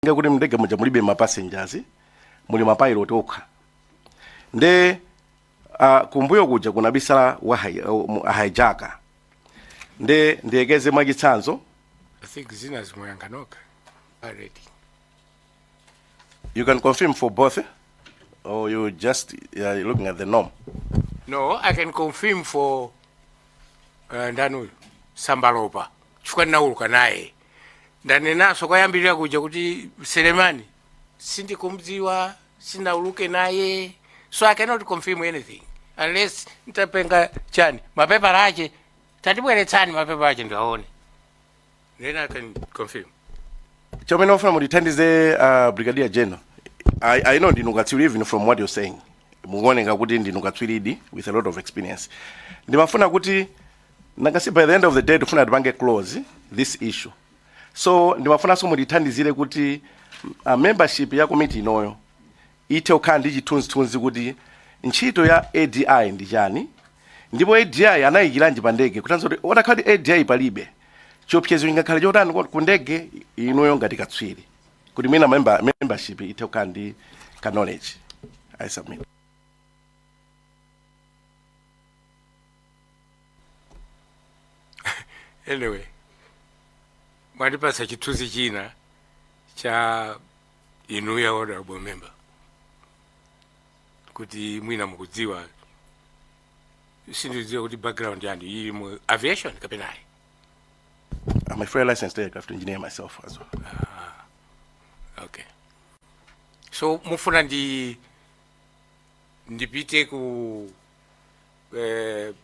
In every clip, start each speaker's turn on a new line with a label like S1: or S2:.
S1: nga kuti mndege muja mulibe mapassengers muli mapilot okha nde uh, kumbuyo kuja kunabisala a hi- uh, mu- hijacker nde ndiyekeze mwachitsanzo I think
S2: zina zimuyanga nokha already
S1: You can confirm for both, eh? or you just yeah, you're looking at the norm. no
S2: i can confirm for uh, ndani uyu Sambalopa chifukwa ndinauluka naye ndanenaso kwayambirira kuja kuti Selemani sindikumdziwa sinauluke naye so i cannot confirm anything unless ntapenga chani mapepala ache tatibweretsani mapepala ache ndiaone Then I can confirm. chomwe
S1: ndimafuna mutithandize uh, brigadier general I, i know ndinu katswiri even from what you're saying mukuoneka kuti ndinu katswiridi with a lot of experience ndimafuna kuti nangansi by the end of the day tifuna tipange close this issue so ndimafunanso mutithandizire kuti uh, membership ya komiti inoyo ithe kukhala ndi chithunzithunzi kuti ntchito ya ADI ndi chani ndipo ADI anayikiranji pa ndege kutanthauza kuti atakhala kuti ADI palibe chiopsezo chingakhale chotani kwa- ku ndege inuyo ngati katswiri kuti mwina member, membership ithe kukhala ndi kaknowledge i submit anyway
S2: mwatipatsa chithunzi china cha inuyo honorable member kuti mwina mukudziwa sindidziwa kuti background yanu ili mu aviation kapena ayi
S1: I'm a fully licensed aircraft engineer myself as
S2: well. okay so mufuna ndi ndipite ku eh,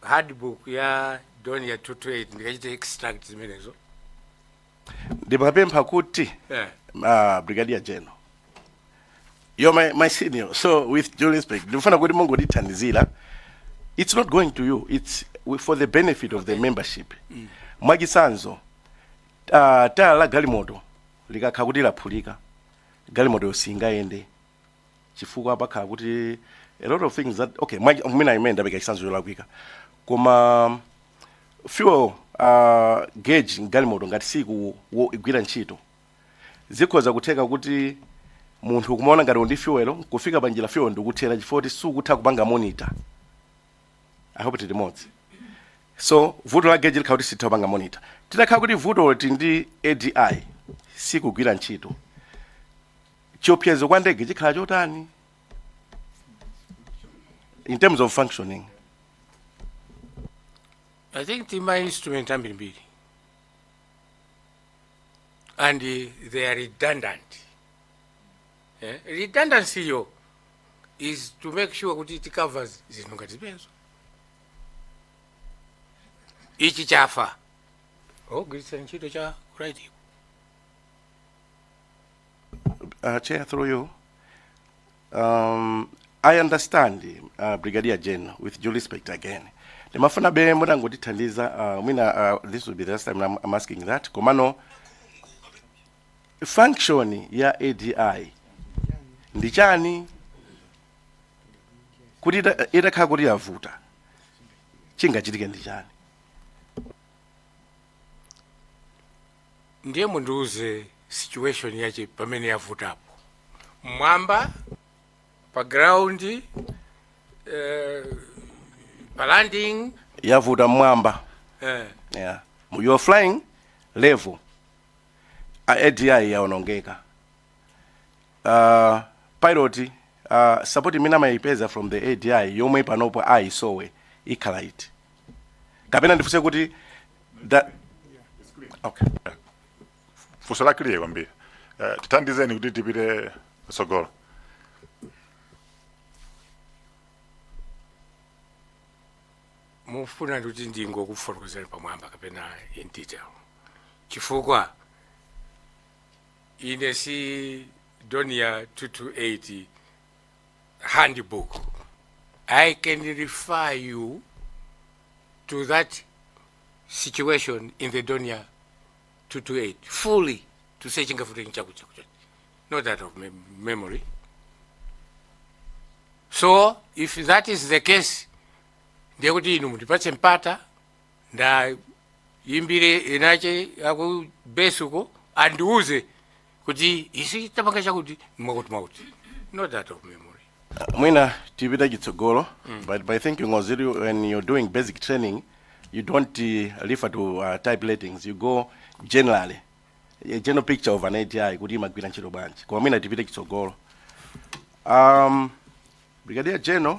S2: handbook ya Dornier 228 ndikachite extract zimenezo ndimapempha
S1: kuti eh. uh, brigadier general you're my, my senior so with due respect ndifuna kuti mungondithandizira it's not going to you it's wi- for the benefit of the membership mwachitsanzo uh, tayala la galimoto likakhala kuti laphulika galimoto yo singayende chifukwa pakhala kuti a lot of things that okay mwa- mwina ineyo ndapeleka chitsanzo cholakwika koma fuel uh, gauge mgalimoto ngati siku wo- igwira ntchito zikhoza kutheka kuti munthu kumaona ngati uli ndi fuel kufika pa njira fuel ndikuthera chifukwa kuti sukutha kupanga monitor i hope tili limodzi so vuto la gauge likhala kuti sitha kupanga monitor titakhala kuti vuto ili ndi ADI sikugwira ntchito chiopsezo kwa ndege chikhala chotani in terms of
S2: functioning I think ma instrument ambirimbiri and uh, they are redundant. Eh? Redundancy yo is to make sure kuti it covers zinthu ngati zimenezo. Ichi chafa. Agwiritsa ntchito cha ku right ko
S1: Uh, Chair, through you. Um, I understand, uh, Brigadier General, with due respect again. Ndimafunabe mutangotithandiza, uh, mwina uh, this will be the last time I'm, I'm asking that. Komano, function ya ADI ndi chani kuti ita- itakhala kuti yavuta chingachitike ndi chani
S2: Ndiye mundiuze situation yache pamene yavutapo. Mmwamba pa ground eh, pa landing yavuta mmwamba
S1: eh, yeah. you are flying level A- ADI yaonongeka uh, pilot uh, support imene amayipeza from the adi yomwe panopo ayisowa ikhala iti kapena ndifunse kuti that okay
S3: funso la clear kwambiri Eh, tithandizeni kuti tipite
S2: patsogolo mufuna kuti ndingokufotokozera pamwamba kapena in detail chifukwa ine si Dornier 228 handbook i can refer you to that situation in the Dornier 228 fully to say chingavute nchakuti chakuti chakuti. not that of mem- memory so if that is the case ndiye kuti inu mundipatse mpata ndiyimbire inayake ya ku base ko andiuze kuti izi zitapanga chakuti mwakuti mwakuti not that of memory mwina
S1: tipita chitsogolo but I think when you're doing basic training you don't uh, refer to uh, type ratings you go generally a general picture of an ADI kuti imagwira ntchito bwanji koma mwina tipite chitsogolo um, brigadier general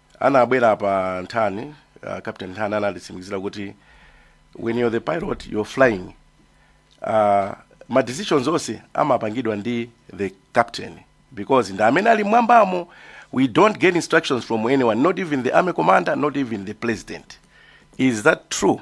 S1: anabwera apa nthani uh, captain nthani anatitsimikizira kuti when you're the pilot you're flying uh, ma decisions onse amapangidwa ndi the captain because ndi amene ali mwambamo we don't get instructions from anyone not even the army commander not even the president is that true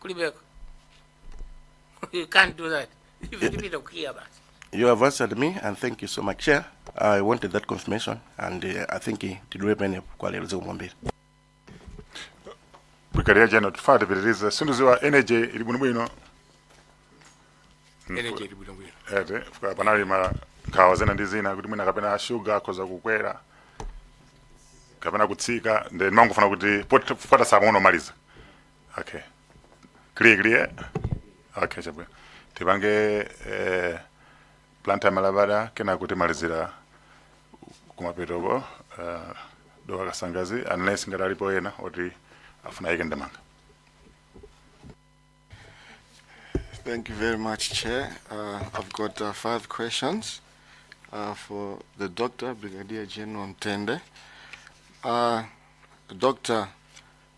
S2: kulibeko you can't do that ife tipita
S1: kukiya basi You have answered me, and thank you so much, Chair. I wanted that confirmation, and uh, I think uh, tilekere pano kwa lero zikomo
S3: kwambiri. brigadier general tifuna tipitirize sindiziwa energy ili bwinobwino
S2: energy ili bwinobwino ete fika
S3: panali ma nkhawa zina ndi zina kuti mwina kapena shuga akhoza kukwera kapena kutsika ndiye ndimangofuna kuti pot- fota samang'ono omaliza okay clear clear okay chabwino tipange eh, planta malabada kena kuti malizira kumapetoko eh, dowa kasangazi unless ngati alipo ena oti afuna yike ndamanga
S4: Thank you very much, Chair. Uh, I've got uh, five questions uh, for the Doctor, Brigadier General Mtende. Uh, Doctor,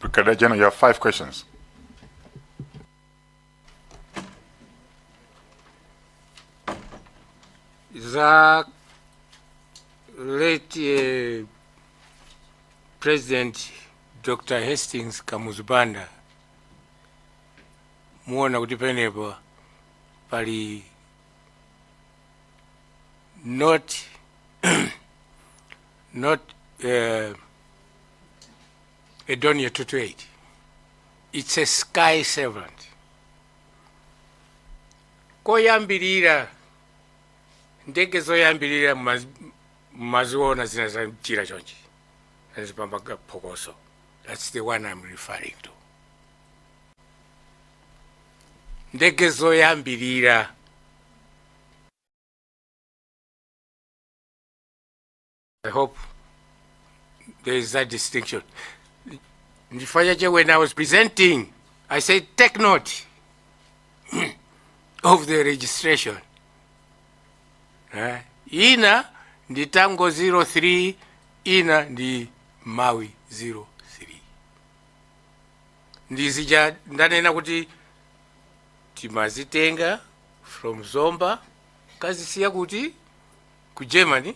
S3: Brigadier General, you have five questions.
S2: za late eh, president dr hastings kamuzu banda muona kuti penepo pali not not uh, a Dornier 228 it's a sky servant koyambirira ndege zoyambirira mumaz- mumaziona zina za mchira chonchi azipamba phokoso that's the one i'm referring to ndege zoyambirira I hope there is that distinction. Nifanyaje, when I was presenting, I said, take note of the registration. Eh, ina ndi tango 03 ina ndi Malawi 03 ndizija ndanena kuti timazitenga from zomba kazisiya kuti ku germany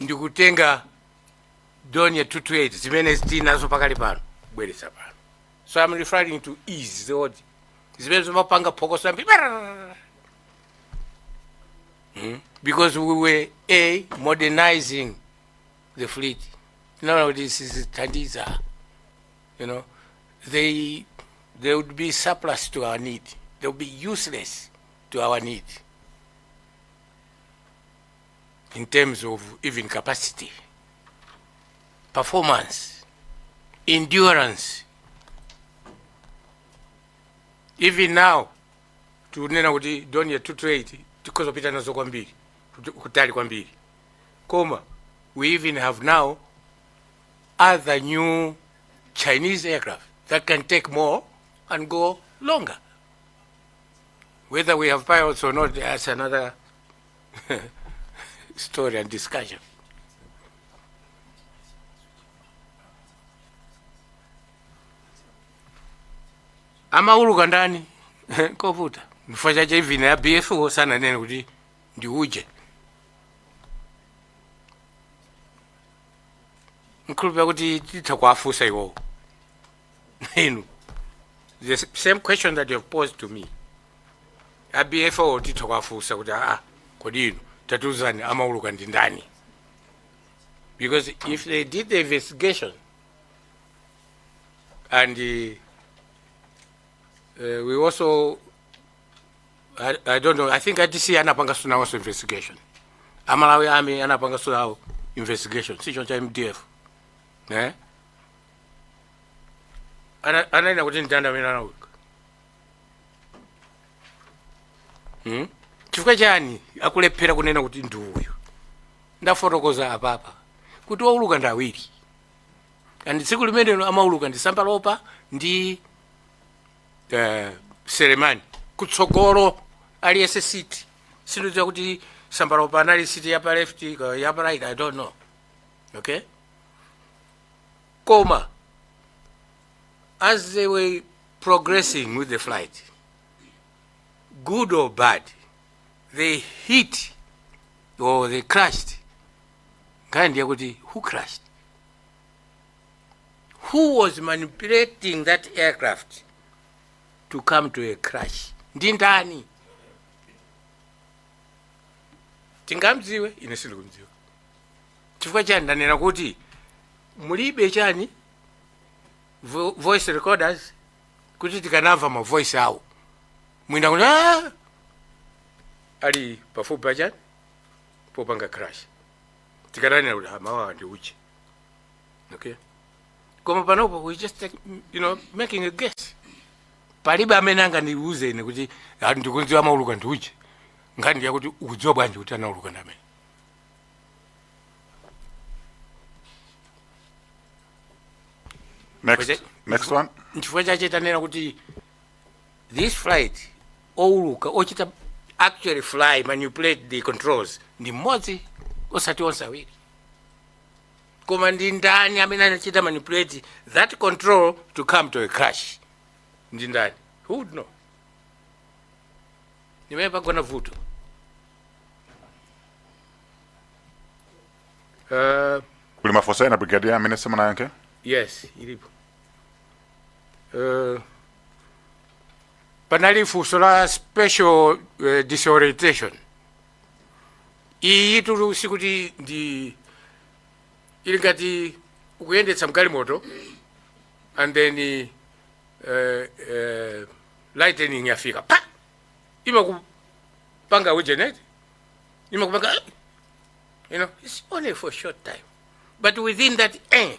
S2: ndikutenga Dornier 228 zimene tili nazo pakali pano kubweretsa pano so i'm referring to ease zod zimene zimapanga phokoso kwambiri Hmm? because we were a modernizing the fleet tinaona kuti sizithandiza you know, they, they would be surplus to our need. They would be useless to our need in terms of even capacity, performance, endurance. Even now, tinena kuti Dornier 228 tikhoza kupita nazo kwambiri kuti- kutali kwambiri koma we even have now other new Chinese aircraft that can take more and go longer. Whether we have pilots or not, that's another story and discussion. amauluka ndani kovuta chifukwa chache even ya bfo sananena kuti ndi uje nkhulupira kuti titha kuwafunsa iwowo inu the s- same question that you have posed to me a BFU titha kuwafunsa kuti aa kodi inu tatiuzani amauluka ndi ndani because if they did the investigation and uh, uh, we also I, I don't know. I think ATC anapangaso nawonso investigation. Amalawi Army anapangaso nawo investigation. Si choncha MDF. Eh? Ana ana ina kuti ndanda mina na uko. Hmm? Chifukwa chani akulephera kunena kuti ndi uyu. Ndafotokoza apapa kuti wauluka ndi awiri. And tsiku limenelo amauluka ndi sambalopa ndi eh, selemani kutsogolo aliyense siti sindidziwa kuti sambalopa anali siti yapa left ka- yapa right i don't know okay koma as they were progressing with the flight good or bad they hit or they crashed nkhani ndi yakuti who crashed who was manipulating that aircraft to come to a crash ndi ndani tingamdziwe ine sindikumdziwa chifukwa chani ndanena kuti mulibe chani vo- voice recorders kuti tikanamva mavoice awo mwina kuti "Ah!" ali pafupi pachani popanga crash tikananena kuti "Ah, mawuwa ndi uje okay koma panopo we just take, you know making a guess palibe amene angandiuze ine kuti "Ah, ndikumudziwa amauluka ndi uje nkhani yakuti ukudziwa bwanji kuti anauluka ndi amene Next,
S3: Wait, next one. nchifukwa chache tanena
S2: kuti this flight owuluka ochita actually fly manipulate the controls ndi mmodzi osati onse awiri koma ndi ndani amene anachita manipulate that control to come to a crash ndi ndani who would know m'mene pagona vuto uh,
S3: kuli mafunso ena brigadier amene simunayankhe yes ilipo
S2: uh, panali funso la special eh, disorientation iyitu sikuti ndi ili ngati ukuyendetsa mgalimoto and then eh, eh, lightning yafika pa imakupanga ujenet imakupanga you know it's only for a short time but within that eh,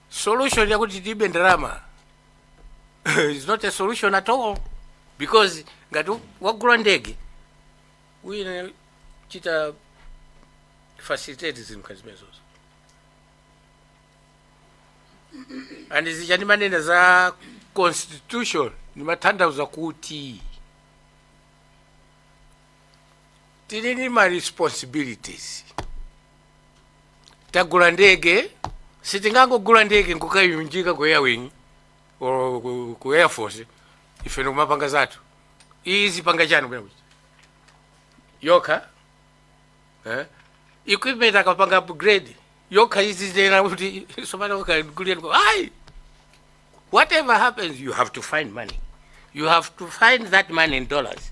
S2: solution yakuti tilibe ndalama is not a solution at all because ngati wagula ndege uyenera uchite facilitate zinthu ngati zimenezozo and zija ndimanena za constitution ndimatanthauza kuti tili ndi ma responsibilities tagula ndege sitingangogula ndege nkukayunjika ku airwing or ku- ku air force ife ndikumapanga zathu izipanga chani bwana kuti yokha eh? equipment akapanga upgrade yokha izinena kuti somana ukagulieni ayi whatever happens you have to find money you have to find that money in dollars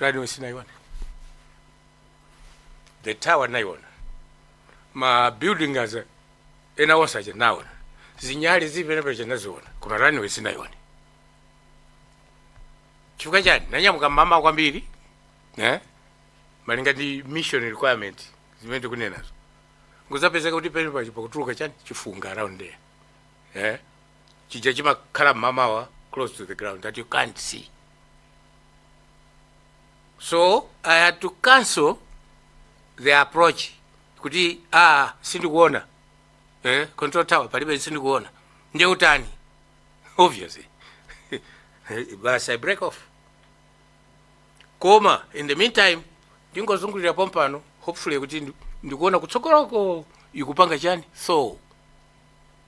S2: runway sinaiona the tower naiona ma building as ena onse aja naona zinyali zipenepa naziona koma runway sinaiona chifukwa chani nanyamuka mmamawa kwambiri eh? malinga ndi mission requirement zimene tikunenazo nkuzapezeka kuti penepacho pakutuluka chani chifunga around there eh? chija chimakhala mmamawa close to the ground that you can't see so i had to cancel the approach kuti ah sindikuona eh, control tower palibe sindikuona nde utani obviously basi i break off koma in the meantime ndingozungulira pompano hopefully kuti ndi- ndikuona kutsogoloko ikupanga chani so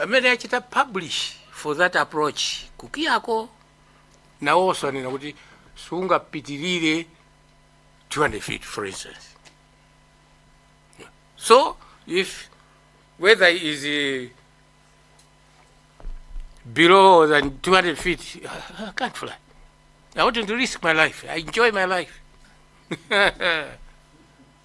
S2: amene achita publish for that approach kukiyako nawonso anena kuti sungapitirire 200 feet for instance so if whether it is uh, below than 200 feet i can't fly i wouldn't risk my life i enjoy my life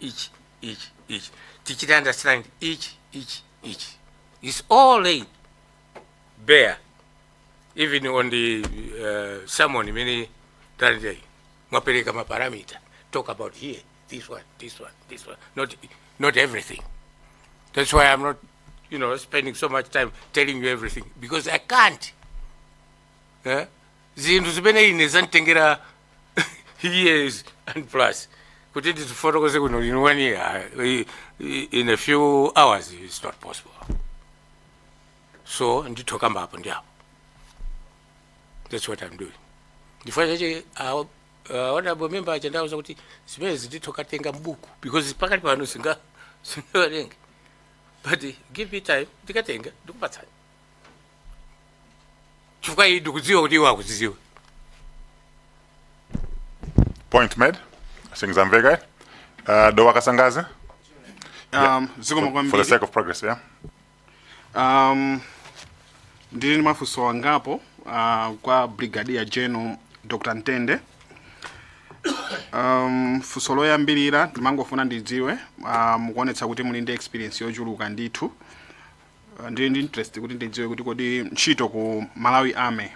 S2: ichi ichi ichi tichite understand ichi ichi ichi it's all laid bare even on the uh, sermon imene talitayi mwapereka maparamita talk about here this one this one this one not, not everything that's why i'm not you know spending so much time telling you everything because i can't eh? zinthu zimene ine zanditengera years and plus kuti ndizifotokoze kuno in one year i- i- in a few hours it's not possible so nditha kukamba apo ndi apo that's what i'm doing ndifuna chabe honorable member aja ndauza kuti zimenezi nditha kukatenga mbuku because pakati pano singa- singawerenge but give me time ndikatenga ndikupatsani chifukwa iyi ndikudziwa kuti iwo
S3: akuzidziwa Point made. Sindikudziwa. Uh, Dowa Kasangadzi, for the sake of progress, yeah?
S5: um, ndili ndi mafunso angapo uh, kwa brigadier general dr ntende um, funso loyambirira ndimangofuna ndidziwe uh, mukuonetsa kuti muli ndi experience yochuluka ndithu Ah, ndili ndi interest kuti ndidziwe kuti kodi ntchito ku malawi army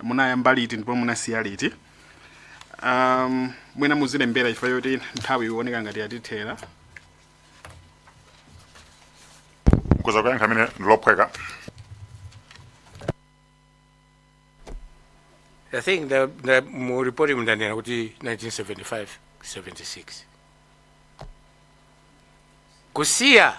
S5: munayamba liti ndipo munasiya liti um, mwina muzilembera chifukwa choti nthawi ioneka ngati yatithera
S3: kudza kuyankha limenelo
S2: ndilophweka I think the, the mu report mndanena kuti 1975 76 kusiya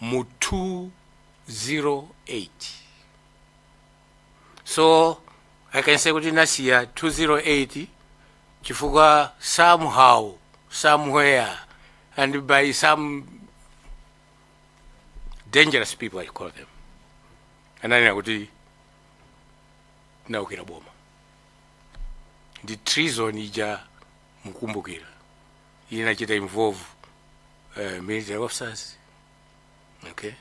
S2: mu 208 so i can say kuti nasiya 208 chifukwa somehow somewhere and by some dangerous people i call them ananena kuti naukira boma ndi treason ija mukumbukira inachita involve uh, military officers okay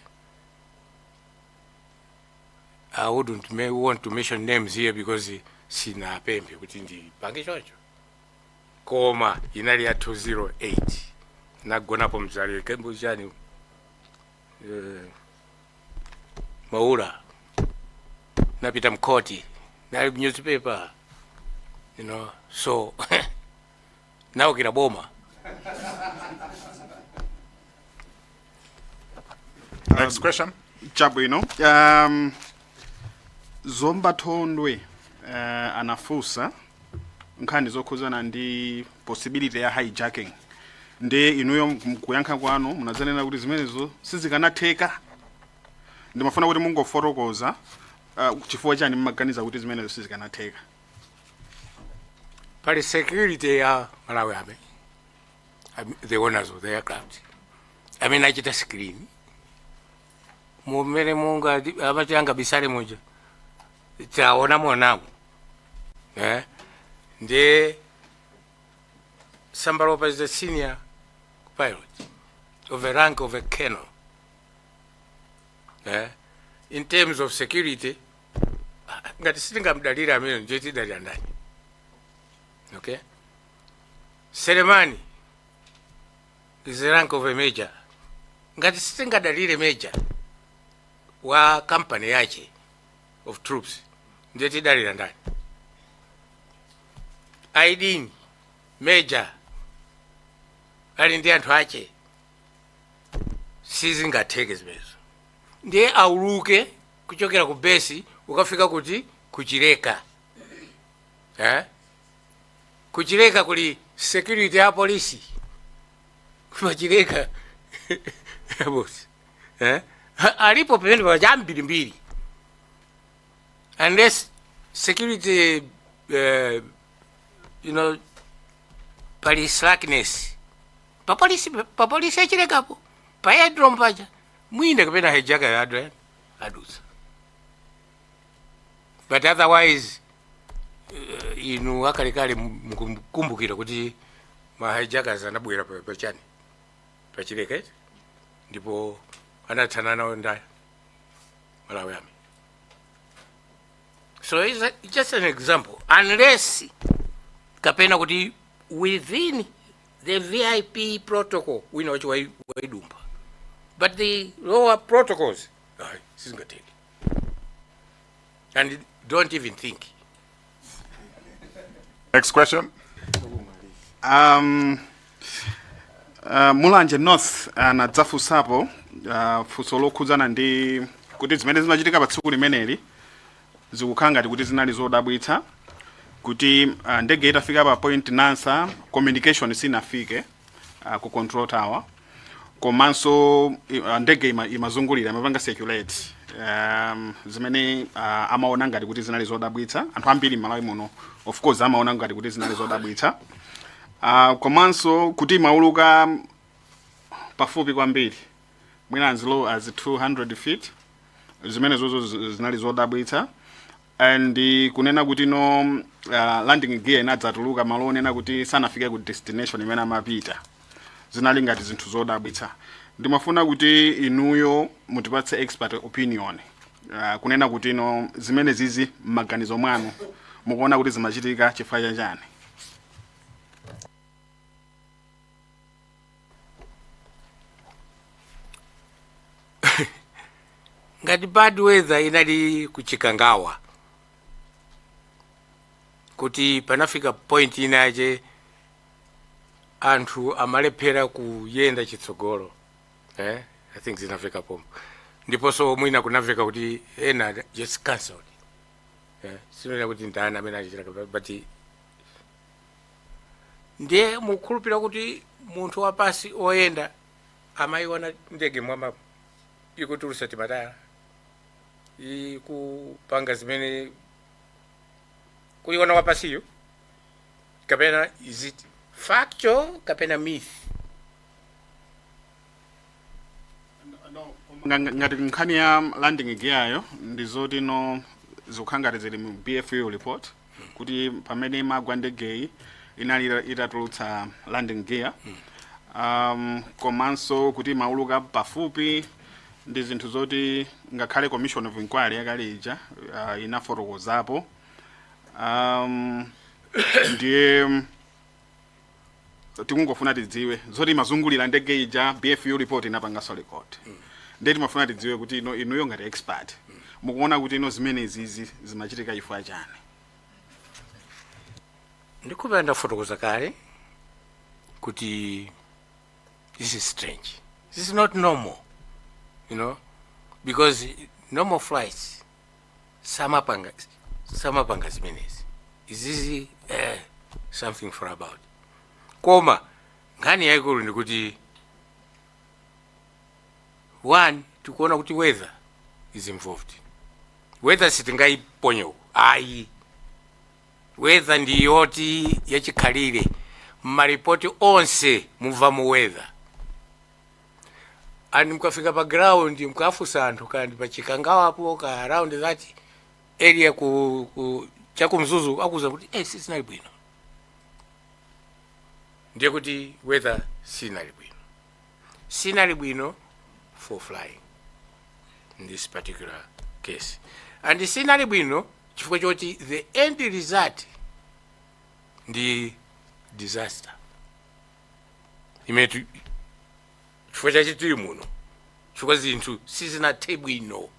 S2: i wouldn't want to mention names here because sinapemphe kuti ndipange choncho koma inali ya 208 nagonapo mu army camp chani uh, maula napita mkoti nali newspaper you know so naukira
S3: boma Next question. chabwino
S5: um, zomba thondwe uh, anafunsa nkhani zokhuzana ndi possibility ya hijacking nde inuyo kuyankha kwanu munadzanena kuti zimenezo sizikanatheka ndimafuna kuti mungofotokoza uh, chifukwa chani mmaganiza kuti zimenezo sizikanatheka
S2: pali security ya malawi army am- the owners of the aircraft amachita screen mumene munga amati angabisale muja taona monamu eh nde sambalopa is the senior pilot of the rank of a colonel eh in terms of security ngati sitingamdalire amene ndiye tidalira ndani okay selemani is the rank of a major ngati sitingamdalire major wa kampani yache of troops ndiye tidalira ndani aidini major ali ndi anthu ache sizingatheke zimenezo ndiye auluke kuchokera ku base ukafika kuti kuchileka eh? kuchileka kuli security ya polisi ku Chileka bosi eh? Ha- alipo pamene paja ambirimbiri unless security eh, you know pali slackness papolisi papolisi yachilekapo pa aerodrome paja mwina kapena hijacker yadutsa adutsa but otherwise uh, inu akalekale mukukumbukira kuti ma hijackers anabwera pa- pachani pa Chileka ndipo anathana nawo ndi a Malawi Army so it's a- just an example unless kapena kuti within the vip protocol wina wache wai- waipanga but the lower protocols ayi, sizingatheke and don't even think Next
S3: question.
S5: um, uh, mulanje north anadzafunsapo uh, funso lokhudzana ndi kuti zimene zimachitika pa tsiku limeneli Zikukhala ngati kuti zinali zodabwitsa kuti ah, ndege itafika pa point nansa communication sinafike ah, ku control tower komanso i- ah, ndege ima- imazungulira imapanga circulate um, zimene ah, amaona ngati kuti zinali zodabwitsa anthu ambiri m'malawi muno of course amaona ngati kuti zinali zodabwitsa Ah, komanso kuti imauluka pafupi kwambiri mwina as low as 200 feet zimenezozo zi- zinali zodabwitsa and eh, kunena kuti no uh, landing gear inadzatuluka malo onena kuti sanafike ku destination imene amapita zinali ngati zinthu zodabwitsa ndimafuna kuti inuyo mutipatse expert opinion uh, kunena kuti no zimenezizi m'maganizo mwanu mukuona kuti zimachitika chifukwa chachani
S2: ngati bad weather inali ku Chikangawa kuti panafika point ina yache anthu amalephera kuyenda chitsogolo eh? i think zinafika pompo ndiponso mwina kunamveka kuti ena just cancelled eh? sinena kuti ndani amene achitaka but ndiye mukukhulupirira kuti munthu wapansi oyenda amayiona ndege mwina ikutulutsa timatayala ikupanga zimene kuyiona wapansiyo kapena is it factual kapena
S5: myth Nga- nga- ngati nkhani ya landing gear yo ndi zoti no zikukhala ngati zili mu bfu report kuti pamene imagwa ndegeyi inali ita- itatulutsa landing gear um, komanso kuti imauluka pafupi ndi zinthu zoti ngakhale commission of inquiry yakale ija uh, inafotokozapo um, ndiye tikungofuna tidziwe zoti imazungulira ndege ija bfu report inapanganso record ndiye timafuna tidziwe kuti ino inuyo ngati expert mukuona kuti ino zimenezizi zimachitika chifukwa chani
S2: ndiye paja ndafotokoza kale kuti this is strange this is not normal you know because normal flights samapanga samapanga zimenezi izizi eh, something for about koma nkhani yayikulu ndikuti one tikuona kuti weather is involved weather sitingayiponye uko ayi weather ndi yoti yachikhalire mmaripoti onse mumvamo weather and mukafika pa ground mukafunsa anthu kaya ndi pa Chikangawapo kaya around that area ku, ku cha ku Mzuzu akuuza kuti eh, sizinali bwino ndiye kuti weather sinali bwino sinali bwino for flying in this particular case and sinali bwino chifukwa choti the end result ndi disaster imene ti- chifukwa chache tili muno chifukwa zinthu sizinathe bwino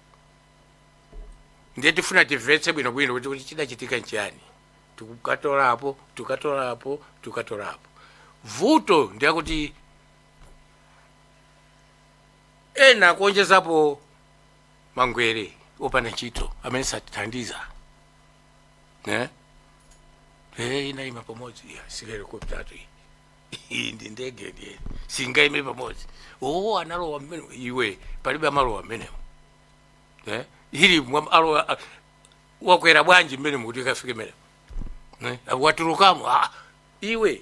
S2: ndiye tifuna timvetse bwinobwino kuti kuti chidachitika nchiyani tikukatolapo tikatolapo tikatolapo vuto ndi lakuti ena akuonjezapo mangwere opanda ntchito amene satithandiza eh? Eh, inaima pamodzi iya si helikoputatu iyi iyi ndi ndege ndiye singaime pamodzi oo analowa mmenemo iwe palibe amalowa mmenemo eh? ili mwa- alowa a- wakwera bwanji mmenemo kuti ikafike mmenemo eh? watulukamo ah, iwe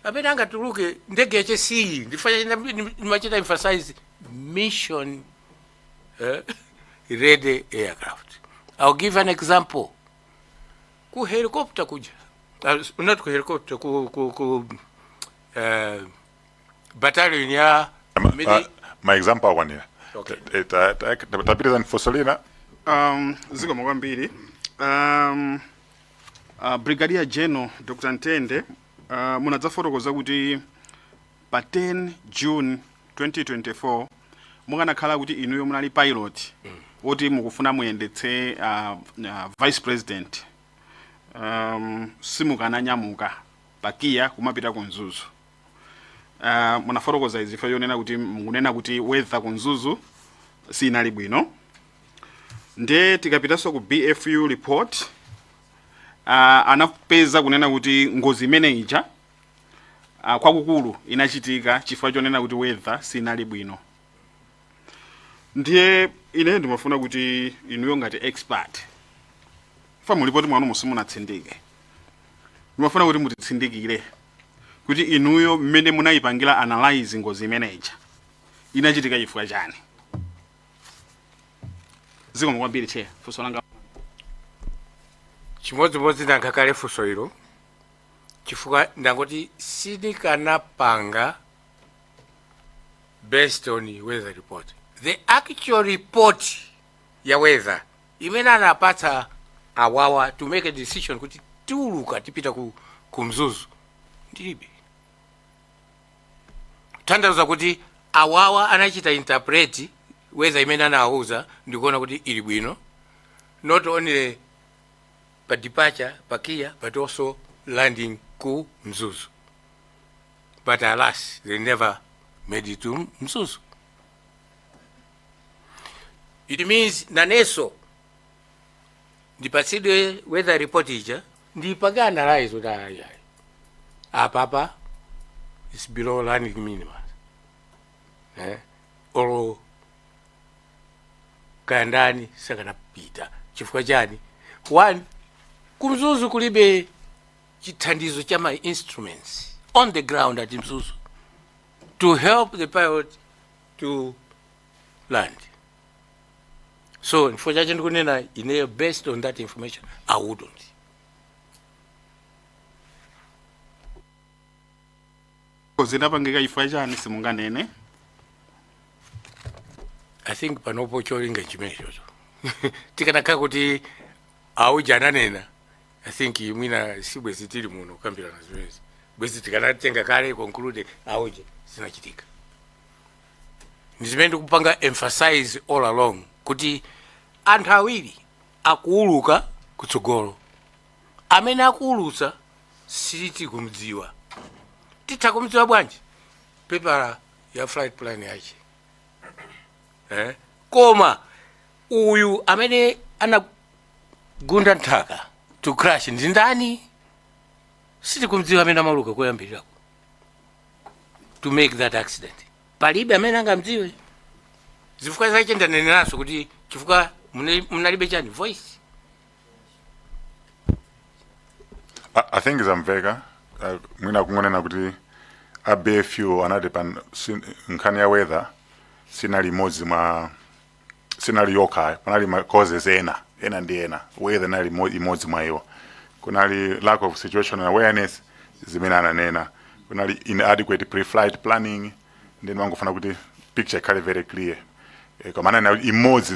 S2: amene angatuluke ndege yache siyi ndifuna china ndimachita emphasize mission eh, ready aircraft i'll give an example ku helicopter kuja uh, not ku helicopter ku, ku, ku uh, battalion ya mili- Ah,
S3: ma example akwanira Okay. Eh, ta-
S2: ta- ta- tapitiriza
S3: nifosolina um,
S5: zikomo kwambiri um, Uh, Brigadier General Dr. Ntende uh, munadzafotokoza kuti pa 10 June 2024 mukanakhala kuti inuyo munali pilot woti mukufuna muyendetse uh, uh, vice president um, simukananyamuka pa KIA kumapita ku Mzuzu Uh, munafotokoza izi chifukwa chonena kuti mukunena kuti weather ku Mzuzu sinali bwino nde tikapitanso ku BFU report uh, anapeza kunena kuti ngozi imene ija uh, kwakukulu inachitika chifukwa chonena kuti weather sinali bwino ndiye ine ndimafuna kuti inuyo ngati expert pa mulipoti mwanu simunatsindike ndimafuna kuti mutitsindikire kuti inuyo mmene munayipangira analyze ngozi imene ija inachitika chifukwa chani zikomo kwambiri che funso langa
S2: chimodzimodzi ndayankha kale funso ilo chifukwa ndangoti sinikanapanga based on weather report the actual report ya weather imene anapatsa awawa to make a decision kuti tiuluka tipita ku, ku Mzuzu ndilibe tanthauza kuti awawa anachita interpret weather imene anawauza ndikuona kuti ili bwino not only pa departure pa KIA but also landing ku Mzuzu but alas they never made it to Mzuzu it means naneso ndipatsidwe weather report ija ndipange analyze kuti ayi ayi apapa is below landing minimum eh? olo kaya ndani sakanapita chifukwa chani one ku Mzuzu kulibe chithandizo cha ma instruments on the ground at Mzuzu to help the pilot to land. So, for chachidule kunena ineyo, based on that information, I wouldn't.
S5: zinapangika chifukwa chani
S2: simunganene I think panopo cholinga chimenechocho tikanakhala kuti auja ananena i think mwina si bwezi tili muno kukambirana zimenezi bwezi tikanatenga kale conclude auja zinachitika ndi zimene ndikupanga emphasize all along kuti anthu awiri akuuluka kutsogolo amene akuulutsa siti kumdziwa titha kumdziwa bwanji pepala ya flight plan yache eh? koma uyu amene ana gunda nthaka to crash ndi ndani sitikumdziwa amene amauluka koyambirira ku- to make that accident palibe amene angamdziwe zifukwa zake ndaneneranso kuti chifukwa mune- munalibe chani voice
S3: I, I think zamveka uh, mwina kungonena kuti a bfu anati pan- nkhani ya weather sinali imodzi mwa sinali yokha panali ma causes ena ena ndi ena weather inali mo- imodzi mwa iwo kunali lack of situational awareness zimene ananena kunali inadequate pre-flight planning ndi ndimangofuna kuti picture ikhale very clear Eh, koma ananena kuti imodzi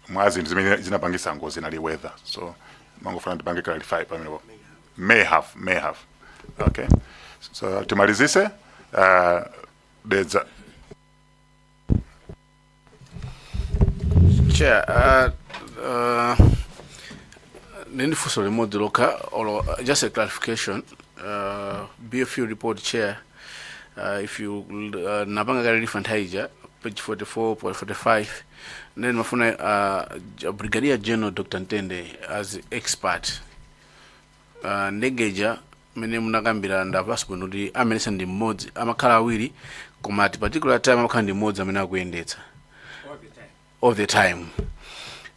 S3: mwa zinthu zimene zinapangisa ngozi inali weather so ndimangofuna ndipange clarify pamenepo may have may have okay so timalizise uh, dedza
S6: chair uh, uh, nini funso limodzi lokha or just a clarification uh, bfu report chair uh, if you uh, napanga kale lifa nthawi ija page 44 point 45 then mafuna uh, J- brigadier general dr ntende as expert uh, ndegeja mene munakambira ndamvetsa bwino kuti amayendetsa ndi mmodzi amakhala awiri koma at particular time amakhala ndi mmodzi amene akuyendetsa all the time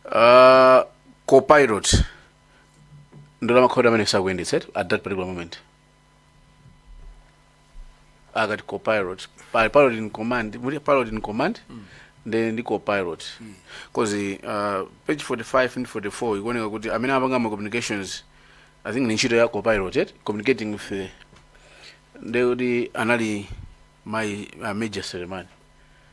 S6: uh, copilot ndiye amakhala amene sakuyendetsa at that particular moment akati copilot pali pilot in command muli pilot in command ndi ndi copilot cause uh, page 45 ndi 44 ikuoneka kuti amene amapanga ma communications i think ni ntchito ya copilot yet communicating with the ndekuti anali mai uh, major Selemani